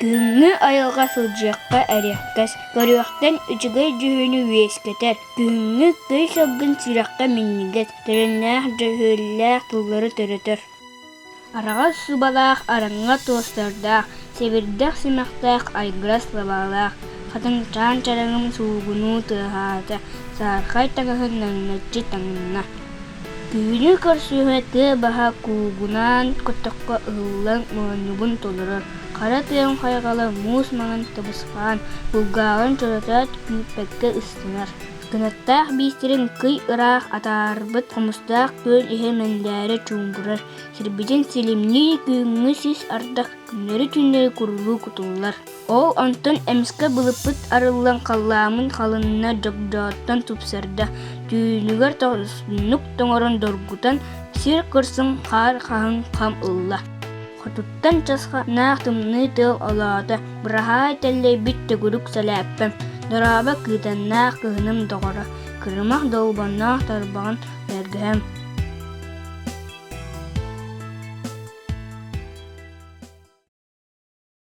Күҥҥэ айылҕа сылдьыахха эриэккэс, көрүөхтэн үчүгэй дьүһүнү үөскэтэр. Күһүҥҥү тый сылгын сүрэххэ минньигэс, тэрэннээх дьөһүөллээх тыллары төрөтөр. Араҕас субалаах араҥа туостардаах, сэбирдэх симэхтээх айгырас лабаалаах, хатыҥчаан чараҥын суугунуу тыаһаата, саархай таҥаһын наҥначчы таҥынна. Түүнү көрсүһэ тыа баһа куугунаан көтөххө ыһыллан моонньугун толорор, хара тыаҥ хайҕала муус маҥан табысхаан булгааҕын чоротоот күүппэккэ ыстанар. Кынаттаах биистэрин кый ыраах атаарбыт хомустаах күөл иһэ мэндээрэ чуумпурар, сирбитин силимнии күҥҥү сис ардах күннэри-түүннэри курулуу кутуллар Ол онтон эмискэ былыппыт арыллан халлааммын халынна дьогдоотон тупсарда, түүнүгэр тоҥсуннук тоҥорон доргутан, сир кырсын хаар хаһыҥ хам ылла. Хотуттан часха наах тымныы тыал олоото, быраһаай тэллэйбит төгүрүк сэлээппэм, дорообо кыытаннаах кыһыным доҕоро, кырымах долбонноох тарбаҕын бэргэһэм.